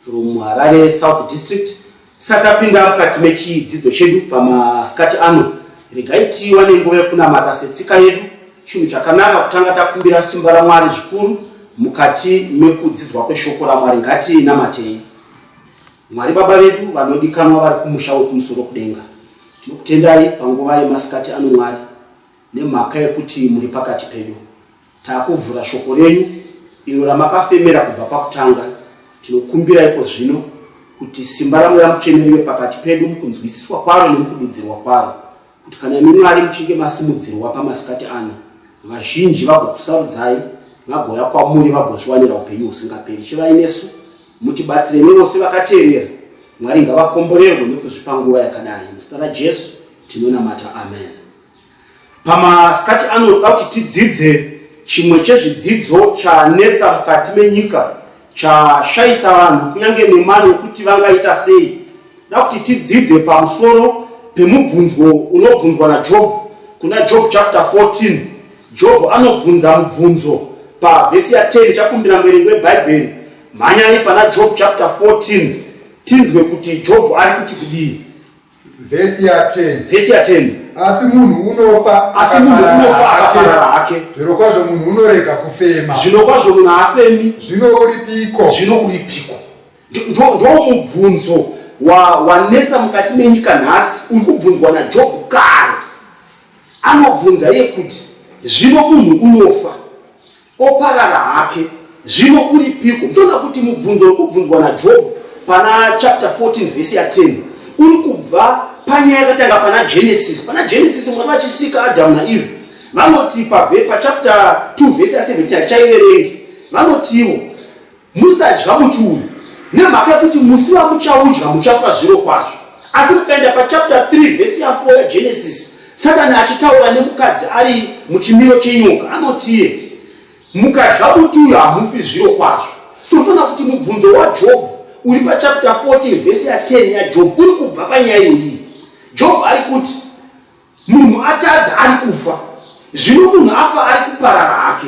From Harare South District. Tisati tapinda mukati mechidzidzo chedu pamasikati ano, regai tiwane nguva yekunamata setsika yedu. Chinhu chakanaka kutanga takumbira simba raMwari zvikuru mukati mekudzidzwa kweshoko raMwari. Ngatinamatei. Mwari Baba vedu vanodikanwa vari kumusha wekumusoro kudenga, tinokutendai panguva yemasikati ano Mwari nemhaka yekuti muri pakati pedu. Takuvhura shoko renyu iro ramakafemera kubva pakutanga. Tinokumbira iko zvino kuti simba raMweya Mutsvene rive pakati pedu mukunzwisiswa kwaro nemukududzirwa kwaro, kuti kana imi Mwari muchinge masimudzirwa pamasikati ano, vazhinji vagokusarudzai, vagouya kwamuri vagozviwanira upenyu husingaperi. Chivai nesu, mutibatsire nevose vakateerera. Mwari ngavakomborerwe nekuzvipa nguva yakadai. Muzita raJesu tinonamata. Amen. Pamasikati ano toda kuti tidzidze chimwe chezvidzidzo chanetsa mukati menyika chashaisa vanhu kunyange nemano yekuti vangaita sei. Toda kuti tidzidze pamusoro pemubvunzwo unobvunzwa naJobho kuna Job chapter 14. Jobho anobvunza mubvunzo pavhesi ya 10. Chakumbira muverengi weBhaibheri mhanyai pana Job chapter 14 tinzwe kuti Jobho ari kuti kudii. Vhesi ya 10. Vhesi ya 10. Asi munhu unofa asi munhu unofa akaparara hake. Zvino kwazvo munhu unorega kufema. Zvino kwazvo munhu haafemi. Zvino uripiko? Zvino uripiko? Ndoo mubvunzo wanetsa wa mukati menyika nhasi uri kubvunzwa naJob kare. Anobvunza iye kuti zvino munhu unofa Oparara hake. Zvino uripiko? Ndoda kuti mubvunzo uri kubvunzwa naJobhu pana chapter 14 vhesi ya 10 uri kubva panyaya yakatanga pana Genesis. Pana Genesis Mwari vachisika Adamu naEve vanoti pachapter 2 vhesi ya 17 hatichaiverengi vanotiwo Musadya muti uyu nemhaka yekuti musi wamuchaudya muchafa zvirokwazvo. Asi mukaenda pachapter 3 vhesi ya 4 yaGenesisi, Satani achitaura nemukadzi ari muchimiro chenyoka, anotie, Mukadya muti uyu hamufi zvirokwazvo. So toona kuti mubvunzo waJobhu uri pachapter 14 vhesi ya 10 yaJobhu uri kubva panyaya iyoyi. Jobhu ari kuti. Munhu atadza ari kufa, zvino munhu afa ari kuparara hake.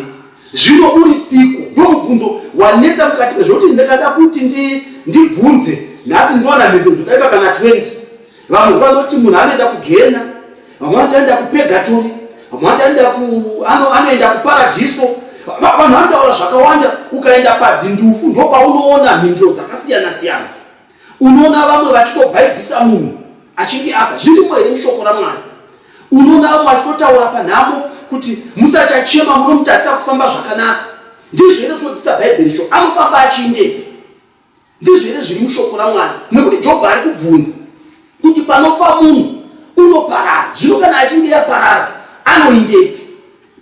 Zvino uri piko? Ndomubvunzo wanetsa mukati mezvoti ndakada kuti ndi, ndibvunze nhasi ndiwana mhinduro dzodarika kana 20. Vamwe vanoti munhu anoenda kugena, vamwe vanoti anoenda kupegatori, vamwe vanoti anoenda ku, ano, anoenda kuparadhiso. Va- Vanhu vanotaura zvakawanda, ukaenda padzindufu ndopaunoona mhinduro dzakasiyana-siyana. Unoona vamwe vachitobhaibhisa munhu achinge afa, zvirimo here mushoko raMwari? Unoona vamwe vachitotaura panhamo kuti musati achema munomutadzisa kufamba zvakanaka, ndizvo here zvinodzisa Bhaibheri izvo? Anofamba achiindepi? Ndizvo here zviri mushoko raMwari? Nekuti Jobho ari kubvunza kuti panofa munhu unoparara, zvino kana achinge yaparara anoindepi?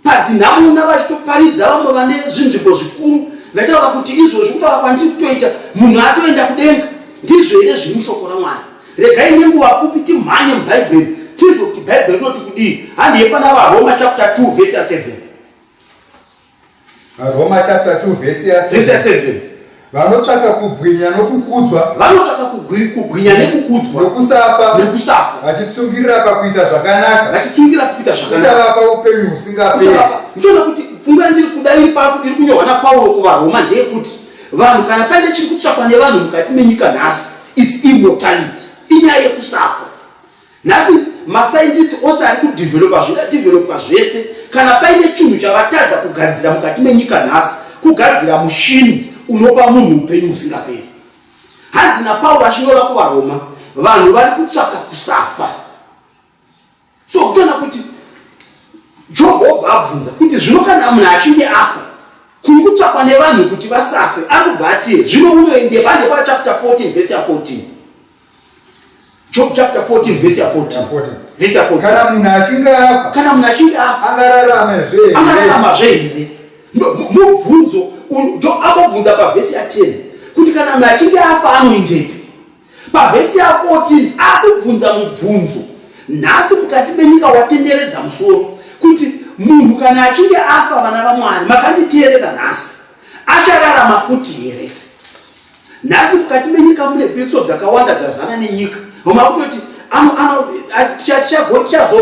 padzinharaunda vachitoparidza vamwe vane zvinzvimbo zvikuru vaitaura kuti izvozvi kutaura kwandiri kutoita munhu atoenda kudenga ndizvo here zviri mushoko ramwari regai nenguva pfupi timhanye mubhaibheri tinzwe kuti bhaibheri rinoti kudii handiye pana varoma chapter 2 vese 7 Roma chapter 2 verse ya Vese ya 7. 7 Vanotsvaka kubwinya nokukudzwa vanotsvaka kugwi- kubwinya nekukudzwa nokusafa nekusafa vachitsungirira pakuita zvakanaka vachitsungira kuita zvakanaka uchavapa upenyu husingaperi. Uchavapa- ndichoona kuti pfungwa yandiri kuda iri papo iri kunyorwa napauro kuvaroma ndeyekuti vanhu kana paine chiri kutsvakwa nevanhu mukati menyika nhasi its immortality inyaya yekusafa Nhasi mascientist ose ari kudevelopa zvoda developa zvese kana paine chinhu chavatadza kugadzira mukati menyika nhasi kugadzira mushini unopa munhu upenyu husingaperi. Hanzi naPauro achinyora kuvaRoma vanhu vari kutsvaka kusafa. So kutoona kuti Jehovha abvunza kuti zvino kana munhu achinge afa kuri kutsvakwa nevanhu kuti vasafe anobva atie zvino unoende pande pachapter 14 vhesi ya 14 Job chapter 14 verse ya 14. Verse ya 14. Kana munhu achinge afa. Kana munhu achinge afa. Angararama zve. Angararama zve here? Mubvunzo Job akobvunza pa verse ya 10 kuti kana munhu achinge afa anoindepi? Pa verse ya 14 akubvunza mubvunzo. Nhasi mukati menyika watenderedza musoro kuti munhu kana achinge afa vana vaMwari makanditeerera nhasi achararama futi here? Nhasi mukati menyika mune dzidziso dzakawanda dzazana nenyika. Vamwe vakutoti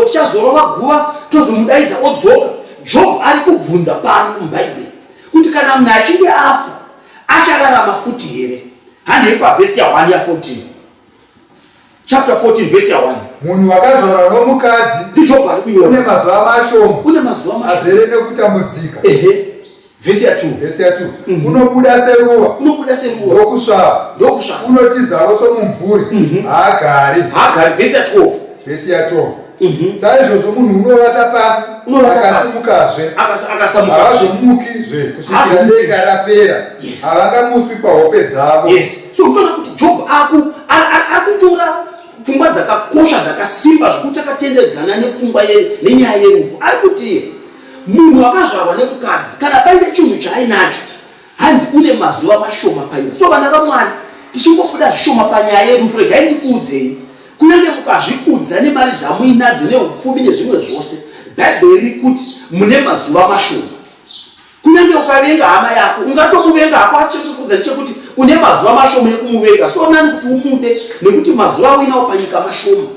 tichazorova guva tozomudaidza odzoka. Job ari kubvunza pano muBhaibheri kuti kana munhu achinge afa achararama futi here? Handei pavhesi ya 1 ya 14. chapter 14 verse ya 1 munhu wakazvarwa nomukadzi ndijoba ari kuiona une mazuva mashoma une mazuva mashoma azere nekutambudzika ehe vhesi ya 2 vhesi ya 2 mhm. unobuda seruva unobuda seruva ndokusvava ndokusvava unotizavo somumvuri mhm. haagari haagari vhesi ya 12 vhesi ya 12 Mhm. saizvozvo munhu unovata pasi akasimukazve akazomukizve kusvikira denga rapera havangamutswi pahope dzavo so kutoona kuti job aku akutora pfungwa dzakakosha dzakasimba zvekuti akatendedzana nepfungwa nenyaya yerufu ari kuti munhu akazvarwa nemukadzi kana paine chinhu chaainacho Hanzi une mazuva mashoma paina. So vana vamwari tichingobuda zvishoma panyaya yerufu regai ndikuudzei. Kunyange mukazvikudza nemari dzamuinadzo neupfumi nezvimwe zvose, Bhaibheri riri kuti mune mazuva mashoma. Kunyange ukavenga hama yako, ungatomuvenga hako asi chekukudza ndechekuti une mazuva mashoma ekumuvenga. Toonani kuti umude nekuti mazuva auinawo panyika mashoma.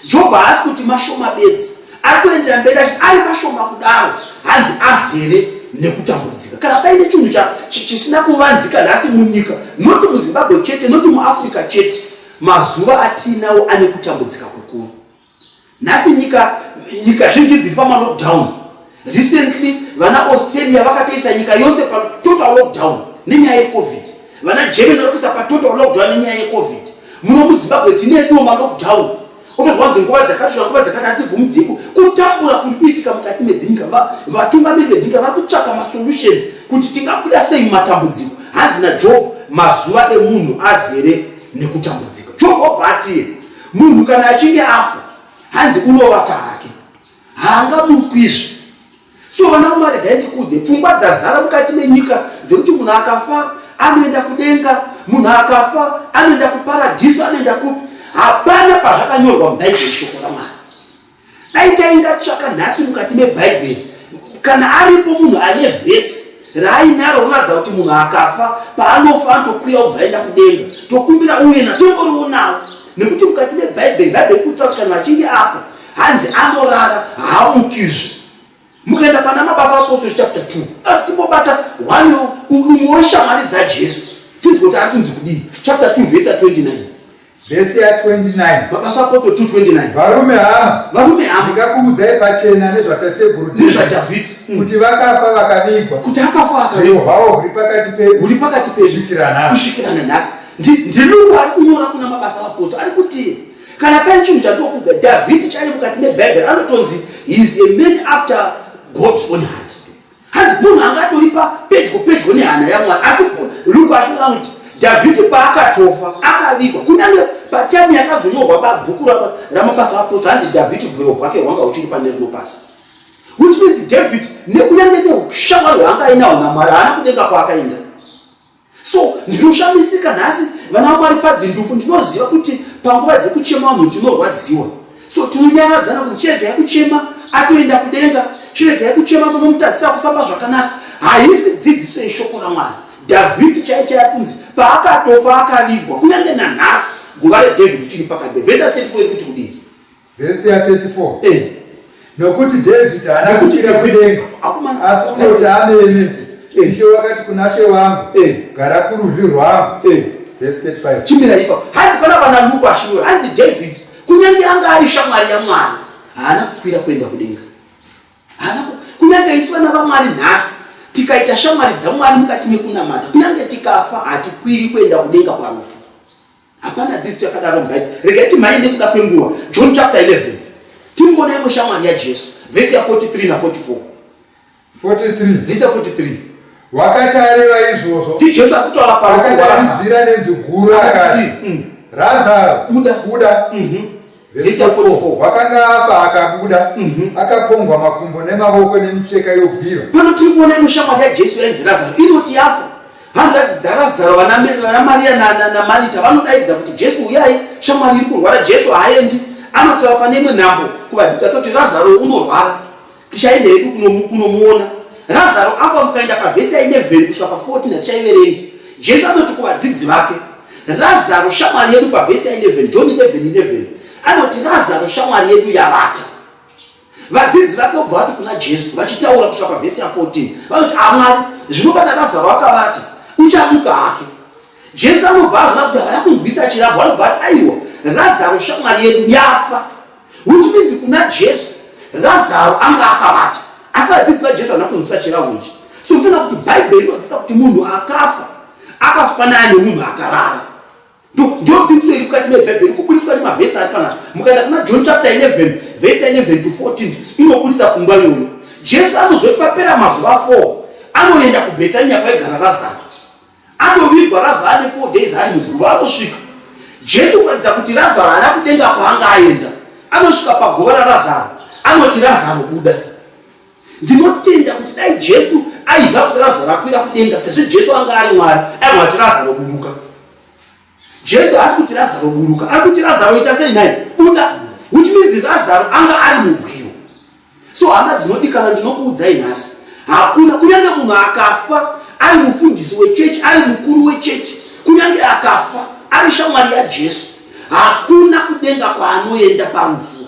Jobho haasi kuti mashoma bedzi, ari kuendera mberi achiti ari mashoma kudaro hanzi azere nekutambudzika. Kana paine chinhu chisina kuvanzika nhasi munyika, noti muZimbabwe chete, noti muAfrica chete, mazuva atiinawo ane kutambudzika kukuru. Nhasi nyika, nyika zhinji dziri pamalockdown. Recently vana Australia vakatoisa nyika yose pa total lockdown nenyaya yeCovid. Vana Germany vakaisa pa total lockdown nenyaya yeCovid. Muno muZimbabwe tine edu ma lockdown. Otozwa nzi nguva dzakati shona nguva dzakati hadzibvumi dziko. Kutambura kuri kuitika mukati medzinyika vatungamiri vedzinyika vari kutsvaka ma solutions kuti tingabuda sei matambudziko. Hanzi na Job mazuva emunhu azere nekutambudzika. Job obva atiye munhu kana achinge afa hanzi unovata hake. haangamutswizve so vana mwari dai ndikudze pfungwa dzazara mukati menyika dzekuti munhu akafa anoenda kudenga munhu akafa anoenda kuparadhiso anoenda kupi hapana pazvakanyorwa mubhaibheri shoko ramwari dai tainga tsvaka nhasi mukati mebhaibheri kana aripo munhu ane vhesi raainaro roratidza kuti munhu akafa paanofa anotokwira kubva aenda kudenga tokumbira uye natomborionawo nekuti mukati mebhaibheri bhaibheri kutsa kuti kana achinge afa Hanzi anorara haamukizve. Mukaenda pana Mabasa Apostles chapter 2, ati timbobata one umwe weshamwari dzaJesu. Tinzwe kuti ari kunzi kudii? Chapter 2 verse 29. Verse ya 29. Mabasa Apostles 2:29. Varume hama, Varume hama, ndikakuudzai pachena nezvatateguru ndizva Dhavhidhi Mm. kuti vakafa vakavigwa, kuti akafa uyo akavigwa hwawo huri pakati pedu huri pakati pedu kusvikira nhasi. kusvikira nanhasi. Ndi- Ndiri uyo ari kunyora kuna Mabasa Apostles ari kuti kana pane chinhu chatokudza dhavhidhi chaiye mukati mebhaibheri anotonzi heis a man after god's own heart hanzi munhu anga atoripa pedyo pedyo nehana yamwari asi luku achinoa kuti dhavhidhi paakatofa akavigwa kunyange pataimu yakazonyorwa babhuku ramabasa aposto hanzi dhavhidhi gwero gwake hwanga uchiri pane rino pasi which means david nekunyange neushamwari hwaanga ainawo namwari haana kudenga kwaakaenda So ndinoshamisika nhasi vana vaMwari padzindufu ndinoziva kuti panguva dzekuchema vanhu ndinorwadziwa. So tinonyaradzana kuti chiregai kuchema atoenda kudenga, chiregai kuchema munomutadzisa kufamba zvakanaka. Haisi dzidziso yeshoko raMwari. Dhavhidhi chaiye chaiye kunzi paakatofa akavigwa kunyange nanhasi guva reDhavhidhi chiri pakadai. Vhesi 34 iri kuti kudii? Vhesi ya 34. Eh. Nokuti David haana kukwira kudenga asi kungoti amene eh. Ishe wakati kuna She wangu eh. gara kurudyi rwangu. Eh. Vhesi 35. Chimira ipa. Hanzi pana vana Luke ashinyora. Hanzi David kunyange anga ari shamwari ya Mwari haana kukwira kuenda kudenga. Haana kunyange isu vana vaMwari nhasi tikaita shamwari dzaMwari mukati mekunamata kunyange tikafa hatikwiri kuenda kudenga parufu. Hapana dzidziso yakadaro muBhaibheri. Regai timhanye nekuda kwenguva. John chapter 11. Timboona imwe shamwari yaJesu. Vhesi ya 43 na 44. 43. Vhesi ya 43. Wakati areva izvozvo, ndiJesu akutaura parufu rwaRazaro. Akadanidzira nenzwi guru akati, mm. Razaro, buda, buda. Mm -hmm. Vhesi 44 wakanga afa akabuda mhm. akapombwa makumbo nemavoko nemicheka yobvira pano tiri kuona imwe shamwari yajesu yainzi razaro inoti yafa hanzvadzi dzarazaro vanamariya namarita vanodaidza kuti jesu uyai shamwari iri kurwara jesu haaendi anotaura pane imwe nhambo kuvadzidza kuti razaro unorwara Tichaenda hedu kunomuona. Razaro afa mukaenda pavhesi ya11 kusvika pa14 hatichaiverengi. Jesu anoti kuvadzidzi vake, Razaro shamwari yedu pavhesi ya11, John 11:11. Anoti Razaro shamwari yedu yavata. Vadzidzi vake obva vati kuna Jesu vachitaura kusvika pavhesi ya14. Vanoti amwari, ah, zvino kana Razaro akavata, uchamuka hake. Jesu anobva azona kuti havana kunzwisa chirabwa anobva ati aiwa Razaro shamwari yedu yafa Which means kuna Jesu Lazaro anga akavata asi vadzidzi vaJesu havana kunzwisa chirahwo ichi. So tinoona kuti Bhaibheri rinodzidzisa kuti munhu akafa akafanana nemunhu akarara. Ndio dzidziso iri mukati meBhaibheri iri kubuditswa nemavhesi ari panapa. Mukaenda kuna John chapter 11 verse 11 to 14 inobuditsa pfungwa iyoyo. Jesu anozoti papera mazuva 4 anoenda kuBhetania kwaigara Lazaro. Atovigwa Razaro ane 4 days ari muguva anosvika. Jesu kuratidza kuti Razaro haana kudenga kwaanga aenda. Anosvika paguva raRazaro anoti Razaro buda. Ndinotenda kuti dai Jesu aiziva kuti Razaro akwira kudenga sezvo Jesu anga ari Mwari aigona kuti Razaro buruka. Jesu haasi kuti Razaro buruka, ari kuti Razaro ita sei nhai? Buda. Which means Razaro anga ari mubwiro. So hama dzinodikana, ndinokuudzai nhasi, hakuna kunyange munhu akafa ari mufundisi wechechi, ari mukuru wechechi, kunyange akafa ari shamwari yaJesu, hakuna kudenga kwaanoenda parufu.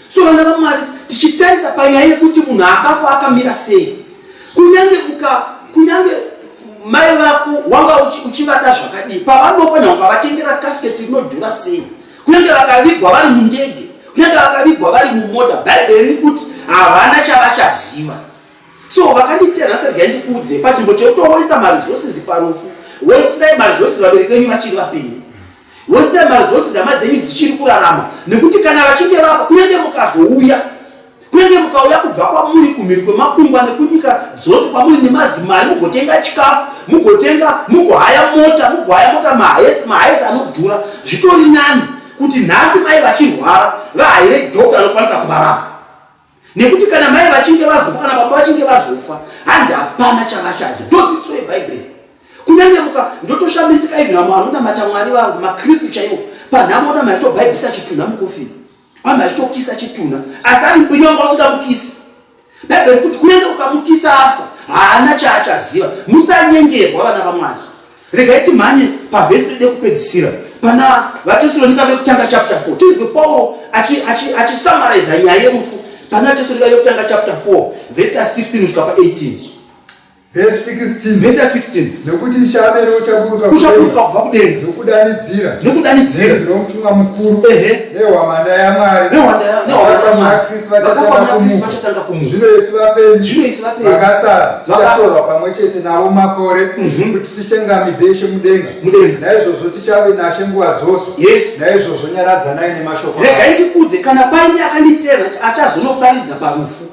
So vana vaMwari tichitarisa panyaya yekuti munhu akafa akamira sei kunyange muka kunyange mai vako wanga uchivada zvakadii pavanofa nyange ukavatengera casket rinodhura sei kunyange vakavigwa vari mundege kunyange vakavigwa vari mumota bhaibheri riri kuti havana chavachaziva so vakanditena sergai ndikuudze pachinbo chekuti wawaita maresources parufu wosirai maresources vabereki venyu vachiri vapenyu Wose mari dzose dzama dzenyu dzichiri kurarama nekuti kana vachinge vafa kunenge mukazouya kunenge mukauya kubva kwamuri kumhiri kwemakungwa nekunyika dzose kwamuri nemazimari mugotenga chikafu mugotenga mugohaya mota mugohaya mota mahayesi mahayesi anodhura zvitori nani kuti nhasi mai vachirwara vahayire doctor anokwanisa kuvarapa nekuti kana mai vachinge vazofa kana baba vachinge vazofa hanzi hapana chavachazi ndodzidziso yebhaibheri kunyange muka ndotoshamisika ivi vamwe vanonamata mwari vavo makristu chaiwo panhamo ona maitobhaibhisa chitunha mukofini vamwe vachitokisa chitunha asi ari mbinyonga usingamukisi bhaibheri kuti kunyange ukamukisa afa haana chaachaziva musanyengerwa vana vamwari Regai timhanye pavhesi ride kupedzisira pana vaTesalonika vekutanga chapter 4 tinzwe Pauro achisamaraiza achi, achi nyaya yerufu pana vaTesalonika vekutanga chapter 4 vhesi ya 16 kusvika pa 18 vhesi 16 vhesi ya 16 nekuti ichaamene uchaburuka uchaburuka kubva kudenga nekudanidzira nekudanidzira zvinomutuma mukuru ehe nehwamanda yamwari nehwamandayamwariakristu vachatanga kumuka zvino isu vapenyu vakasara tichatorwa pamwe chete navo makore mhm. kuti tichengamidze ishe mudenga naizvozvo tichave nashe nguva dzose naizvozvo nyaradzanai nemashoko regai ndikudze kana paine akanditera achazonoparidza parufu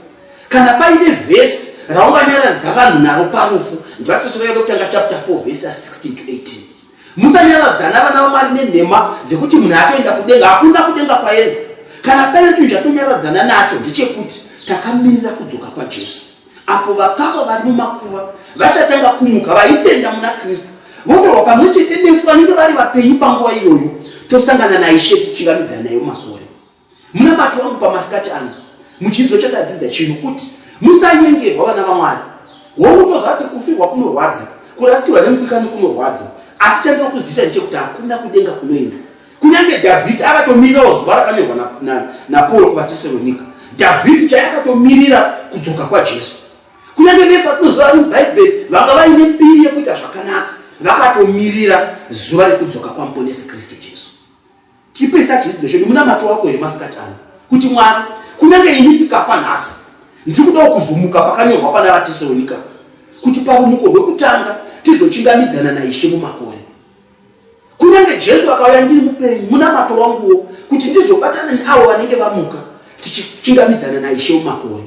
kana paine vhesi raunganyaradza vanhu naro parufu ndivatosviraika kutanga chapter 4 vhesi ya 16 to 18 Musanyaradzana vana vaMwari nenhema dzekuti munhu atoenda kudenga. Hakuna kudenga kwaenda. Kana paine chinhu chatonyaradzana nacho ndechekuti takamirira kudzoka kwaJesu. Apo vakafa vari mumakuva vachatanga kumuka vaitenda muna Kristu votorwa pamwe chete nesu vanenge vari vapenyu panguva iyoyo tosangana naIshe tichivamidzana nayo makore. Munamato wangu pamasikati ano muchidzidzo chatadzidza chino kuti musanyengerwa vana vamwari hongu toziva kuti kufirwa kunorwadza kurasikirwa nemudikani kunorwadza asi chandiri kuzivisa ndechekuti hakuna kudenga kunoenda kunyange dhavhidhi akatomirirawo zuva rakanyorwa napauro kuvatesaronika dhavhidhi chai akatomirira kudzoka kwajesu kunyange vese vatinoziva vari mubhaibheri vanga vaine mbiri yekuita zvakanaka vakatomirira zuva rekudzoka kwamuponesi kristu jesu Tipesa chidzidzo chedu munamato wako here masikati ano kuti Mwari, kunyange ini ndikafa nhasi, ndiri kudawo kuzumuka pakanyorwa pana vaTesaronika kuti parumuko rwekutanga tizochingamidzana naIshe mumakore. Kunyange Jesu akauya ndiri mupenyu munamato wanguwo kuti ndizobatana neavo vanenge vamuka tichichingamidzana naIshe mumakore.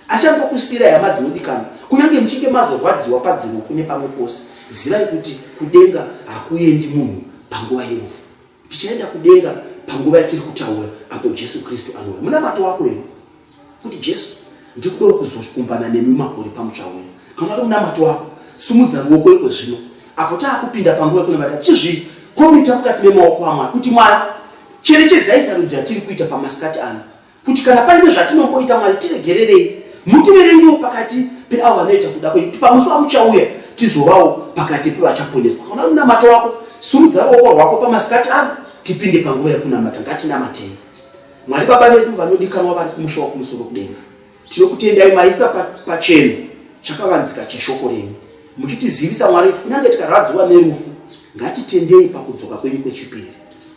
Achangokusiyirai hama dzinodikana, kunyange muchinge mazorwadziwa padzirufu nepamwe pose, zivai kuti kudenga hakuendi munhu panguva yerufu. Tichaenda kudenga panguva yatiri kutaura apo Jesu Kristu anouya. Munamato wako here kuti Jesu, ndiri kudawo kuzokumbana nemi makore pamutsva wenyu? Kana kuti munamato wako, sumudza ruoko iko zvino apo taakupinda panguva yekunamata tichizvi komita mukati memaoko aMwari kuti Mwari cherechedzai sarudzo yatiri kuita pamasikati ano kuti kana paine zvatinongoita mwari tiregererei mutiverengewo pakati peavo vanoita kuda kwenyu kuti pamusi vamuchauya tizovawo pakati pevachaponeswa kana munamato wako surudza ruoko rwako pamasikati ano tipinde panguva yekunamata ngatinamatei mwari baba vedu vanodikanwa vari kumusha wakumusoro kudenga tinokutendai maisa pacheno chakavanzika cheshoko renyu muchitizivisa mwari kuti kunyange tikarwadziwa nerufu ngatitendei pakudzoka kwenyu kwechipiri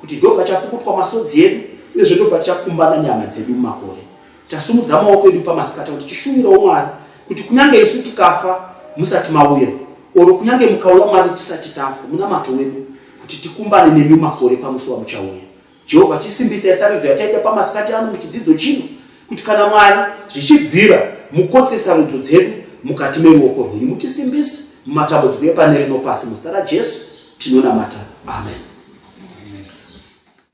kuti ndo pachapukutwa masodzi edu uyezve ndo patichakumbana nyama dzedu mumakore tasumudza maoko edu pamasikata kuti tishuvirawo mwari kuti kunyange isu tikafa musati mauya oro kunyange mukauya mwari tisati tafa munamato wedu kuti tikumbane nemi makore pamusi wamuchauya Jehovha chisimbisai sarudzo yataita pamasikati ano muchidzidzo chino, kuti kana Mwari zvichibvira mukotse sarudzo dzedu mukati meruoko rwenyu, mutisimbise mumatambudziko epane rino pasi. Muzita raJesu tinonamata. Amen.